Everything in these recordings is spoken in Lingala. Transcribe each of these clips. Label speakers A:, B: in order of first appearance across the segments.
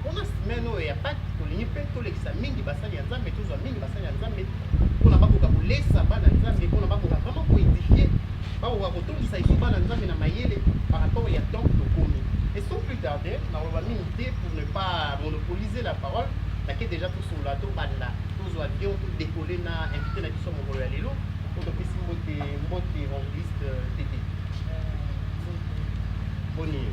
A: Mpo na semaine oyo ya Pâques, tolingi mpe tolekisa mingi basali ya Nzambe, tozwa mingi basali ya Nzambe mpo na bakoka kolesa bana Nzambe, mpo na bakoka vraiment koedifie, bakoka kotondisa lisusu bana Nzambe na mayele par rapport ya temps tokomi. Et sans plus tarder, nakoloba mingi te pour ne pas monopoliser la parole, nake déjà tosolola, tobanda, tozwa avion, todekoler na invité na biso mokolo ya lelo, mpo topesi mbote, mbote evangeliste Tete. Boni yo?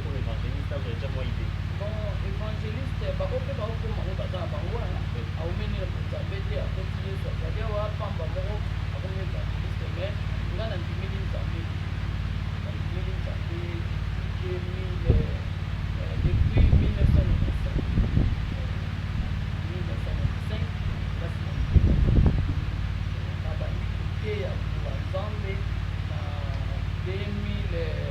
A: Oyo evangeliste azo echa mwa idee. Bon
B: evangeliste ba ope ba okoma oyo baza na bango wana aumeli na bonzambe te akoti yesu azali awa pamba moko akomi evangeliste mais nga na ndimeli nzambe na ndimeli nzambe 2000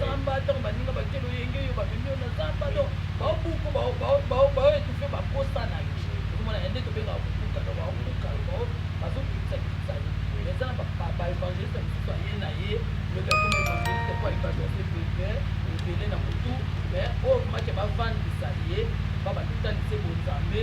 B: zamba tango baninga batie loyenge yo bamemi yo na zamba donc baobuku bao etufe baposa na yo okomona yande tobengaka kobuka donc baobuka yo bao bazokitisa kitisa yo mais eza na baevangeliste mosusu aye na ye lobi akoma evangeliste po aevangeliste bebe ebele na motu mais oyo komaki bavandisa ye babanda otalise bonzambe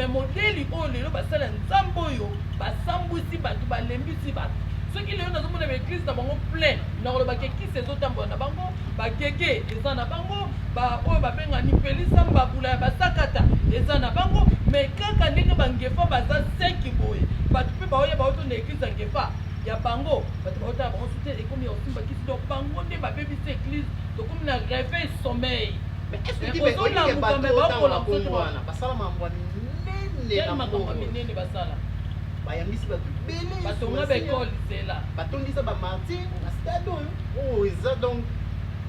B: me modeli oyo lelo basala nzambe oyo basambwisi bato balembisi bato soki lelo nazomona baeglise na bango plein nakolobaka ekisi ezotambola na bango Ba Gege eza na bango, ba oyo ba benga ni pelisa mbabula ya ba sakata eza na bango, mais kaka ndenge ba Ngefa baza seki boye, batu pe baoya ba otonda eglise ya Ngefa ya bango, batu ba otala bango soutien ekomi ya kosimba kisi, donc bango nde ba bebisi eglise, tokomi na reveil sommeil. Mais est ce que mais olingi que batu oyo tango ba komi wana basala mambwa
A: minene na
B: mbongo? bayambisi bato ebele
A: batonga ba ekole
B: zela batondisa ba martir
A: na stade oyo oyo eza donc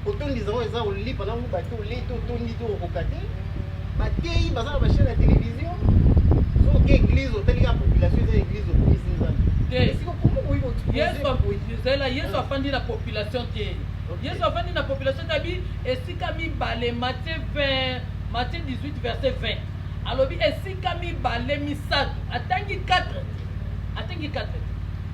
A: kotondisa oyo eza kolipa na buba te olei te otondi te okoka te bateyi baza na bachaine ya televizio soki eglise otali kaka population eza eglise okomisi
B: nzambeezela yesu afandi na population te yesu afandi na population te abi esika mibale matie 20 matie 18 verset 20 alobi esika mibale misato atangi 4 atangi 4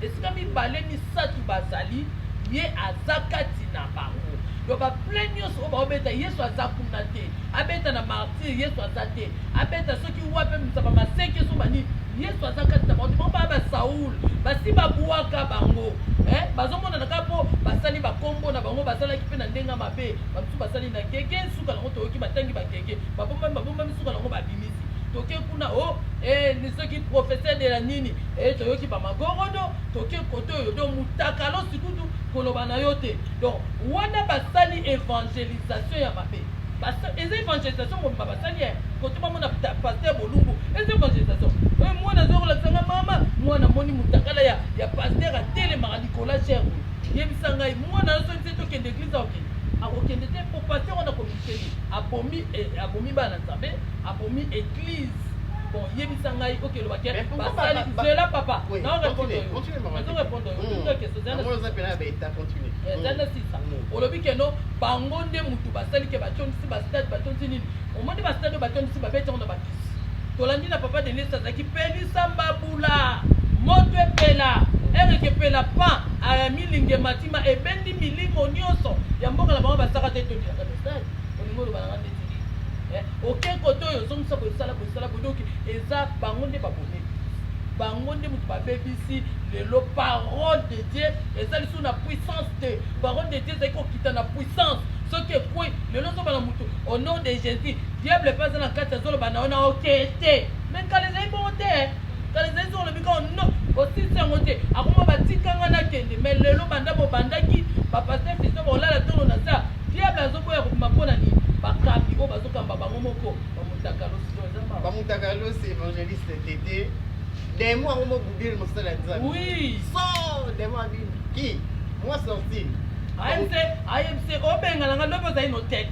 B: Esika mibale misatu bazali, Ye aza kati na bango. Donc ba plein nionso oyo baobeta, Yesu aza kuna te. Abeta na martyrs, Yesu aza te. Abeta soki wapi, abimisa ba maseke soki ba nini, Yesu aza kati na bango te. Bango baya ba Saul, basi babuaka bango eh, bazomonana kaka po basali ba kombo na bango, basalaki pe na ndenge ya mabe. Ba misusu basali na gege, suka na yango toyoki batangi ba gege, babombami, babombami, suka na yango babimi. toke kuna o oh, eh, soki professeur de la nini eh, toyoki bamagorodo toke kote oyo donc mutakalo sikutu koloba na yo te donc wana basali evangelisation ya mabe eza evangelisation mobimba basali eh, kote bamona paster bolumbu eza evangelisation oyo mwana azokolakisanga mama mwana moni mutakala ya, ya paster atelemaka likola cher yebisa ngai mwana yo soki se tokende eglise akokende akokende te po paster wana komi abomi abomi bana nzambe abomi eglise bon yebisa ngai oke loba ke basali zela papa olobi keno bango nde motu basali ke batondisi bastade batondisi nini omoni bastade oyo batondisi babeti yango na tolandi na papa denis azalaki pelisa mbabula moto epela ereke epela pan amilinge matima ebendi milimo nyonso ya mboka na bango basaka te tolingaka message olingi oloba nanga ndeti eh, oke kote oyo ozongisa bosala bosala bodoki eza bango nde babomeli bango nde moto babebisi lelo parole de dieu eza lisusu na puissance te parole de dieu ezali kokita na puissance soki ekwei lelo ozobana moto au nom de jésus Diable pe aza na kati azo loba na yo na yo te te mais kala ezali bongo te kala ezali soki olobi kaka no osilisi yango te akoma batika nga nakende mais lelo banda bobandaki bapaster fiso bakolala tolo na sa diable azoboya kobima mpo na nini bakambi oyo bazokamba bango moko bamutakalosi to eza mawa bamutakalosi
A: evangeliste tete demo yango mobubile mosala ya nzambe oui so
B: demo
A: abimi ki mwa sorti ayebise
B: ayebise obengana nga lobi ozali notete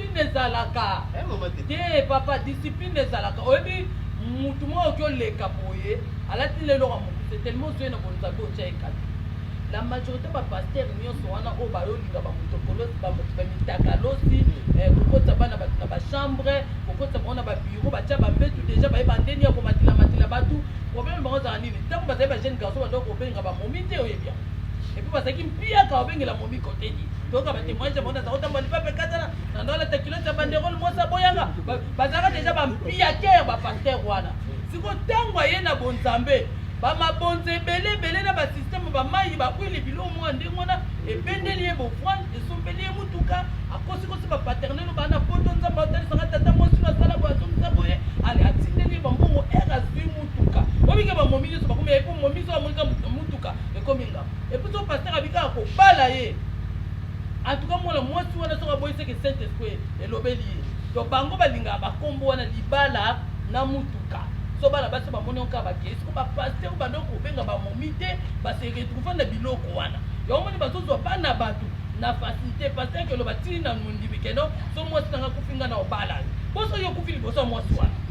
B: Discipline ezalaka. Eh maman te. Te papa discipline ezalaka. Oyebi mutu moko oki oleka boye alati lelo ka mokuse tellement ozoye na bonzabi otya ye kati. La majorité ba pasteur nyonso wana oyo bayolinga ba motokolosi ba moto ba mitakalosi eh, kokotisa bana bato na ba chambre kokotisa bango na ba bureau batya ba mbetu deja baye bandeni ya komatila matila bato problème bango ezalaka nini ntango bazali ba jeune garçon bandoko kobenga ba momi te oyebi yango epuis bazalaki mpiaka obengela momi koteni toyoka ba témoignage mona za kotambola lipape ekatana na ndola lata culotte ya banderole mwasi aboyanga bazalaka deja bampiatere bapastere wana siko ntango aye na bonzambe bamabonza ebele ebele na basysteme bamai bakwili biloko moko ya ndenge wana ebendeli ye bofwani esombeli ye motuka akosikosi bapaternel bana poto nzambe aotalisaka tata mwasi no asala boye azongisa boye ale atindeli ye bambongo ere azwi motuka obike bamomi nyonso bakomi yai mpo momi so amonika motuka ekomi ngamba Epuis soki pasteur abi kaka kobala ye en tout cas mwana mwasi wana soki aboyi seke saint esprit elobeli ye donc bango balingaka ba kombo wana libala na mutuka so bana basi bamoni yango kaka bakei siko ba pasteur bando kobenga ba momi te ba se retrouver na biloko wana yango moni bazozwa bana bato na facilité pasteur kelo batili na mondimi keno so mwasi nanga kufi nga na obala yo boso yo kufi liboso ya mwasi wana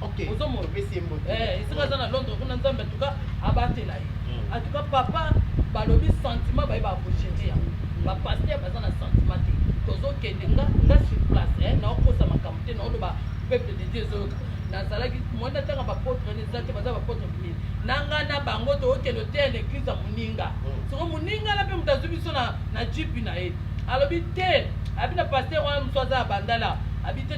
B: okay. ozomona opesi ye mbote eh, esika aza na londres kuna nzambe atuka abatela ye hmm. atuka papa balobi sentiment baye bakoshenge yango bapaster baza na sentiment te tozokende nga nga sur place eh, naokosa makambo te naoloba peuple de dieu ezoyoka nazalaki mwana ntanga bapotre eza te baza bapotre minene na ngai na bango tookende oteya na eglize ya moninga hmm. soko moninga na mpe moto azwi biso na jipi na ye alobi te abi na paster wana mosu aza ya bandala abi te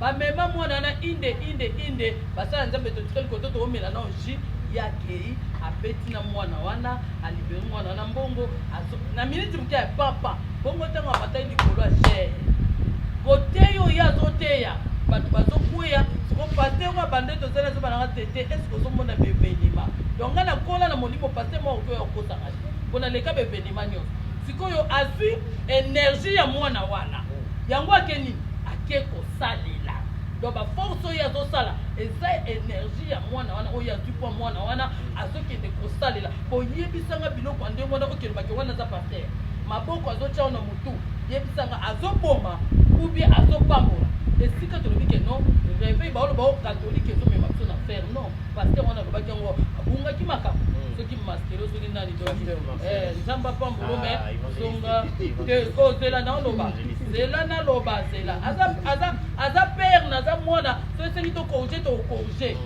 B: Ba mema mwana wana inde inde inde basala nzambe totikali koto toomela nao jus ye akei abeti na mwana wana alibere mwana wana mbongo azo na miniti moke ya papa bongo ntango amataki likolo ya jere koteyi oyo azoteya bato bazokweya siko paster oyo abanda tozali azoba nanga tete eske ozomona bevenima donc ngai nakola na molimo paster mwa okoya okosaka te mpo naleka bevenima nyonso sikoyo azwi energie ya mwana wana yango akeni ake kosalela donc ba force oyo azosala eza energie ya mwana wana oyo azwi mpo mwana wana azokende kosalela boyebisanga biloko ya ndenge wana okelobake wana aza paster maboko azotya wana motu yebisanga azoboma ubie azopambola esika tolobi ke no reveil baolo bao katolike ezomema biso na fer non paster wana alobaki yango abungaki makambo hmm. soki maskelo soki nani eh, nzambe apambolo me ah, zonga te oh, zela naoloba zela naloba zela aza aza aza père naza mwana so esengi tokorge tokorge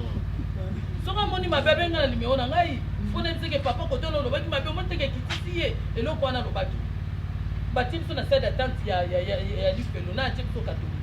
B: soki amoni mabe abenga na limero na ngai mpona ebiseke papa kote ono olobaki mabe omoteke kitisi ye eloko wana alobaki batie biso na sade atante ya lifelo na atie biso katolike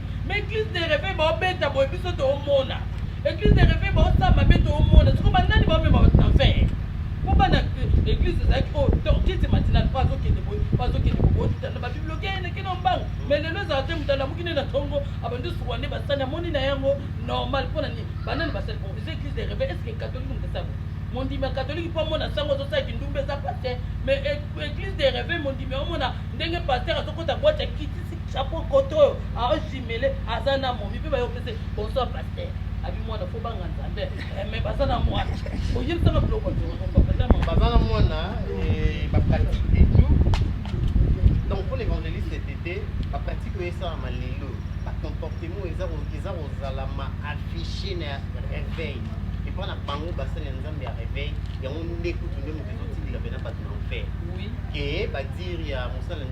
B: Mais église de réveil ba obeta boye biso to omona. Église de réveil ba osala mabe to omona. Siko ba nani ba mema ba na fin. Ko bana église ezali ko tortise matinale pa zo kende boye pa zo kende boye tuta na ba biblioke ene kino mbang. Mais lelo ezala te mutala muki ne na tongo abandi suwa ne basani amoni na yango normal pona ni banani basali pour les églises de réveil est-ce que catholique mutu sabo mondimi ya katoliki mpo amona sango azosala kindumba eza pate mais église de réveil mondimi omona ndenge paster azokota bwati ya kiti Chapeau koto oyo azo jumele aza na momi mpe bayo pese bonsoir pasteur abi mwana fo banga nzambe eh, mais baza na mwana oyebisaka biloko baza na
A: mwana eh, bapratique et tout donc mpo na évangéliste tete bapratique oyo esalama lelo bacomportement eza kozala ma affiche na réveil epa na bango basali ya nzambe ya réveil yango nde kutu nde moto ezotindika mpena bato na enfer ke badire ya mosala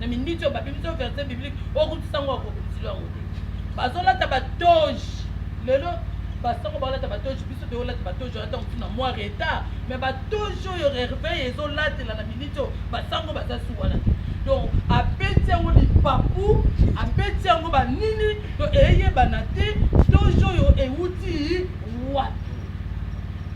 B: na minute oyo babimisi yo verset biblique okutisa yango akokutisi lo yango te bazolata batoge lelo basango baolata batoge biso toyolata batoge ata motu na mwa retard mais batoge oyo reveil ezolatela na minute oyo basango baza su wana te donc abeti yango lipapu abeti yango banini to eyebana te toge oyo euti wapi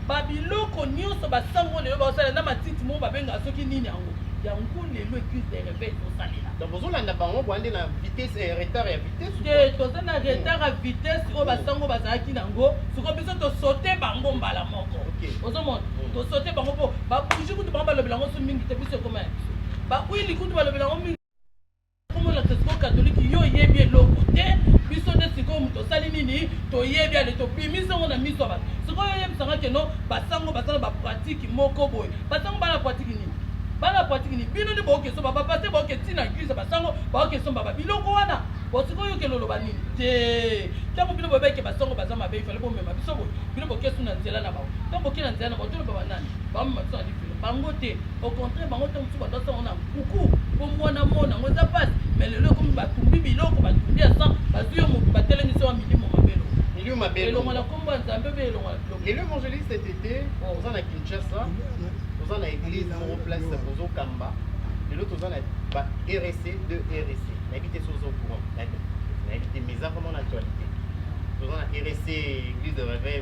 B: babiloko nyonso basango lelo baosala na matiti moko babengaka soki nini yango yango lelo eglise de reveil tosalela donc bozolanda bango
A: boa nde na vitesse eh, retard ya vitesse te toza na retard
B: ya vitesse oyo basango bazalaki nango siko biso tosote bango mbala moko ozomona mm. tosote bango mpo babuji kutu bango balobela yango so mingi te biso ekoma ya biso bakwili kutu balobela yango mingi Kombo na Tesco Catholique yo oyebi eloko te biso nde sikoyo moto osali nini toyebi ale tobimisi yango na miso ya bato sikoyo oyebisanga keno basango baza na bapratike moko boye basango bana pratike nini bana pratike nini bino nde baoke somba bapaster baoke ntina eglise basango baoke somba ba biloko wana bosiko oyokela oloba nini te ntango bino boyebaki basango baza mabe ifale bomema biso boye bino bokesu na nzela na bango ntango boke na nzela na bango toloba banani bamema biso na lifelo bango te Au contraire, bango ntango mosusu bato asango na nkuku mpo mwana mona yango eza mpasi me lelo ekomi batumbi biloko batumbi ya san bazwi yo motu batelemisi wa milimo mabelo milimo mabelo elongola nkombo ya nzambe mpe elongola biloko lelo evangeliste tete
A: oh. oza na kinshasa toza na église moko place kozokamba lelo toza na ba rec de rec nayebi te soki oza au courant nayebi te mais eza vraiment na actualité toza na rec église de réveil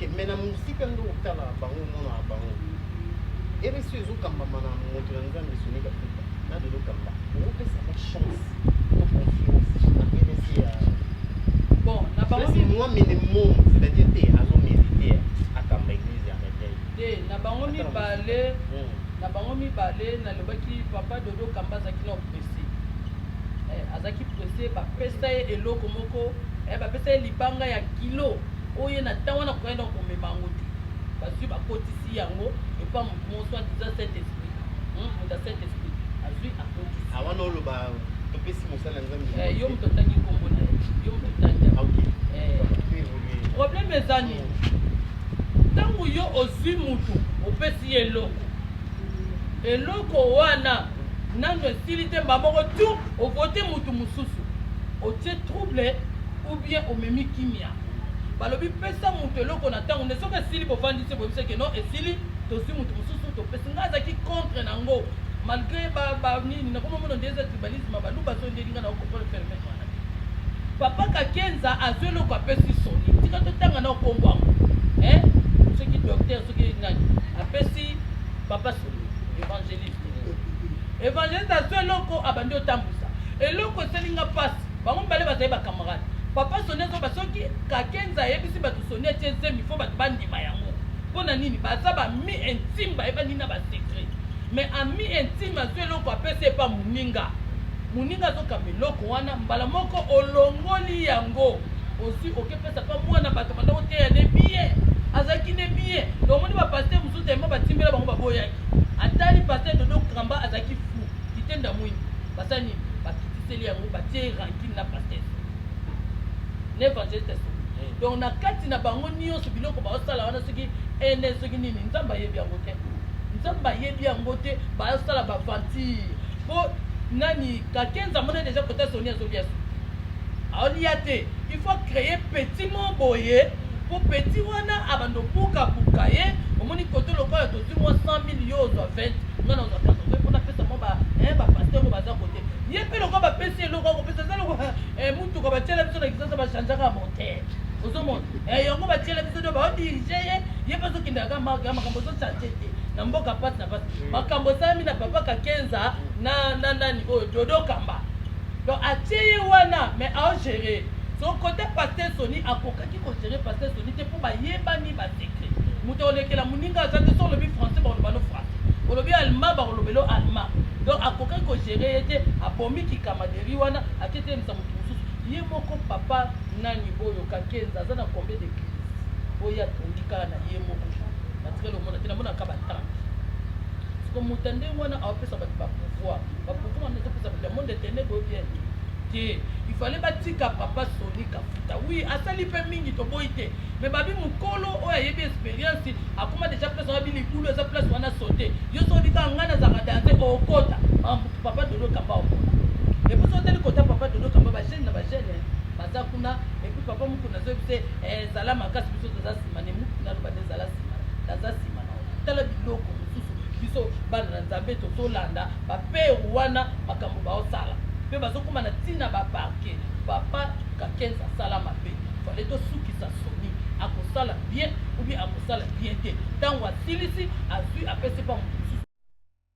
A: ok me na mosika nde otala bango mona ya bango ereso ezokambama na moto ya nzambe soni kafuta na lelo kamba okopesaka chance to confiance na rs ya bon
B: na bango moi mene mom
A: c'est-à-dire te azomérite akamba église ya reveil te na bango
B: mibale hmm. na bango mibale nalobaki papa dodo kamba azalaki na oppressé eh, azalaki Ese bapesa ye eloko moko eh, bapesa ye libanga ya kilo oyo ye na ntango wana akokaki na komema yango te. Bazwi bakotisi yango epa moto moko soit disant saint esprit hmm, moto ya saint esprit azwi akotisi awana ah, oloba
A: topesi mosala ya nzambe eh, yo moto otangi nkombo
B: na ye yo moto otangi ah, eh. problème eza nini ntango yo ozwi motu opesi ye eloko eloko wana Nanu esili te mba moko tu o vote mutu mususu otie trouble ou bien omemi kimia balobi pesa mutu eloko na tango nde soki esili bovandi se boyebisa ke non esili tozui mutu mususu topesi nga azaki contre na ngo malgré ba ba nini nakoma mona nde eza tribalisme baluba so ndeli nga na okopole ferme mwana papa kakenza azui eloko apesi soni tika totanga na okombo yango eh soki docteur soki nani apesi papa soni évangéliste evangeliste azwi eloko abandi otambwisa eloko esali nga mpasi bango mibale bazali bacamarade papa soni azoba soki kakenza ayebisi bato soni atie zemi fo bato bandima yango mpo na nini baza bami intime bayebani na basecret mais ami intime azwi eloko apesi epa moninga moninga azokamba eloko wana mbala moko olongoli yango osi okepesa mpa mwana bato banda koteya ne biye azalaki ne biye omoni bapaster mosusu telema batimbela bango baboyaki Atali pasteur dodo cramba azalaki fou kite ndamuingi basala nini bakitiseli yango batie rankine na pasteur na evangeliste ya solo eh. donc na kati na bango nyonso biloko baosala wana soki ene soki nini nzambe ayebi yango te nzambe ayebi yango te baosala baventire mpo nani kakenza mona deja kota soni azoliaso aolia te il faut créer petit mo boye Po petit wana abanda obuka buka ye omoni kote lokola tozui mua 100000 yo ozua 20 nga nazua 80 po napesa mua ba eh ba pasteur oyo baza kote ye pe lokola bapesi ye eloko akopesa eza lokola eh mutuka batiela biso na kisasa ba changeaka moteur ozomona eh yango batiela biso nde bao dirige ye ye pe azokendaka kaka marke ya makambo ozo change te na mboka pasi na pasi mm. makambo esalami na papa kakenza na na nani oyo dodo kamba donc atie ye wana mais aogere Son cote pasteur Sony akokaki ko gerer pasteur Sony te po ba yebani ba secret mutu akolekela muninga aza te soki olobi français bakoloba no français olobi allemand bakoloba elo allemand donc akokaki ko gerer ye te abomi ki camaderie wana ake telemisa mutu mususu ye moko papa nani oyo kakenza aza na combien de crise oyo atongi kaka na ye moko batikali omona te namona kaka batante siko mutu ya ndenge wana aopesa bato ba pouvoir ba pouvoir wana ezopesa bato ya monde etene boyo bien te te il fallait batika papa soni kafuta oui asali pe mingi toboyi te mais babi mukolo oyo ayebi experience akoma deja place wana bilikulu eza place wana sote yo soki kaka ngai nazalaka danse okota mamutu papa dodo kamba okona epuis otali kota papa dodo kamba bagene na bagene baza kuna epuis papa mukuna azoyebi se eh, zala makasi biso toza nsima ne mukuna aloba nde zala nsima naza nsima Tala biloko mosusu biso bana na nzambe tozo landa ba père wana makambo bao sala pe bazo koma na tina ba parquet papa kakenz asala mabe fallait to sukisa soni ako sala bien ou bien ako sala bien te tangu asilisi azui apesi pa mutu mosusu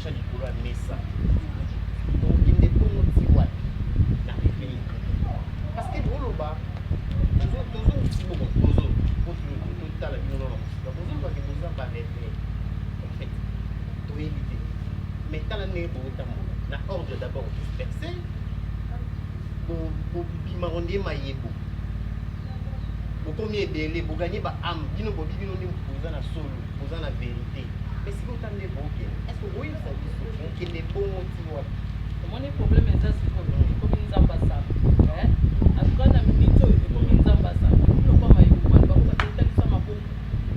A: tya likolo ya mesa okende bongo ti wapi na pepele parce que boloba tozotala bino na mosika bozolobake boza bareve en fait toyebi te mais tala ndenge bokotambola na ordre d'abord disperse bobima ngo nde mayebo bokomi ebele boganye ba ame bino bobi bino nde boza na solo oza na verite mais sikoyo ota nde bokende est ce que okoyebisa biso bokende bongo ti wapi omoni problème
B: eza sikoyo ekomi nzambe asala atuka na minute oyo ekomi nzambe asala biloko mayekokani bango batetalisa mabomu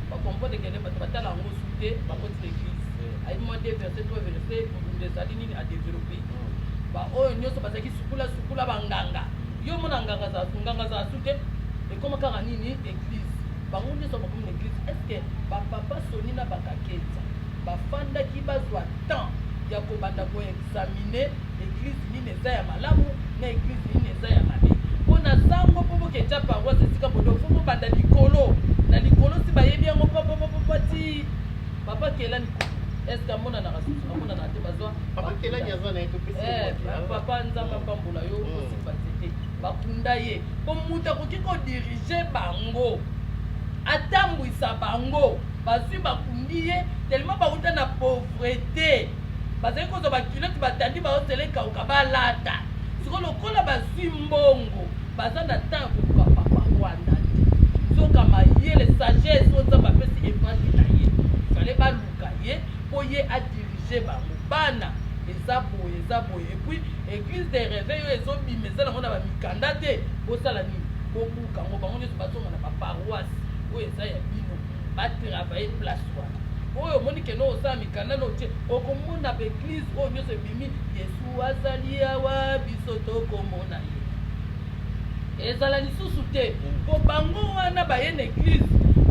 B: bakompote kende bato batala yango su te bakoti na église ayebi mwa de verse to verse bobunda ezali nini adeveloppe baoyo nyonso bazalaki sukula sukula banganga yo omona nganga azala su te ekoma kaka nini église Bango nioso bakomi na eglise est ce que ba papa Sony na ba Kakenza ba fandaki bazua temps ya kobanda ko examiner eglise nini eza ya malamu na eglise nini eza ya mabe? Po na sango po bo keca paroisse esika bo donc faut bo banda likolo na likolo si bayebi yango pa pa pa pa ti papa kelani kutu est ce que amonanaka susu amonanaka te bazua Papa Kelani aza na
A: ye topesi ye eh, mwaki, papa nzambe
B: apambola yo osimba nzete Ba kunda ye po mutu akoki ko diriger bango atambuisa bango bazui ba kundi ye tellement ba wuta na pauvrete bazali kozua ba culotte ba tandi bango zela ekawuka ba lata sikoyo lokola bazui mbongo baza na temps ya koluka papa Rwanda te nzoka mayele sagesse oyo Nzambe apesi evangile na ye fallait baluka ye po ye a diriger bango bana eza boye eza boye et puis Eglise de reveil oyo ezobima eza nango na bamikanda te bosala nini bobuka yango bango nyonso bazonga na baparoise oyo eza ya bino batravaille place wana oyo omoni kende osala mikanda na otie okomona baeglise oyo nyonso ebimi yesu azali awa biso tokomona ye ezala lisusu te mpo bango wana baye na eglise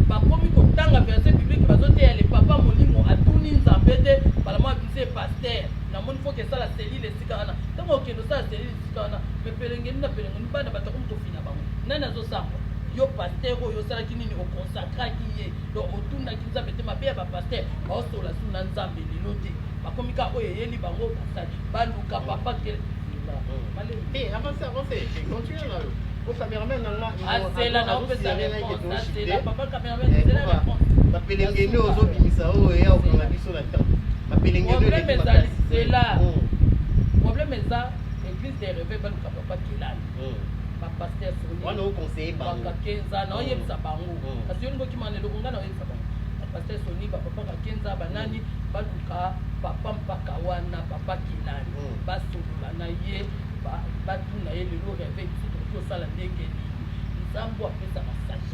B: bakomi kotanga verse biblique bazoteya le papa molimo atuni nzambe te balamwa bise paster namoni foke esala seli cellule esika wana ntango okende osala cellule esika wana me pelengeni na pelengeni bana bato akomi kofina bango nani azosamba yo paster oyo osalaki nini okonsakraki ye donc otunaki nzambe te mabe ya bapaster baosola su na nzambe lelo te bakomi ka oyo eyeli bango basali baluka papa te asela na opesa reponse
A: asela papa cameraman asela
B: reponse bapelengeni
A: ozobimisa oyo ya okanga biso na temps Problème
B: ezali zela. Problème eza église des rêves baluka papa kelani. Ba pasteur soni. Wana o conseiller bango.
A: Papa kenza na oyebisa
B: bango. Kasi yo ngoki mane loko ngana oyebisa bango. Ba pasteur soni ba papa ka kenza ba nani baluka papa mpaka wana papa kelani. Ba solola na ye ba batuna ye lelo rêve biso tosala ndenge nini. Nzambo apesa masaki.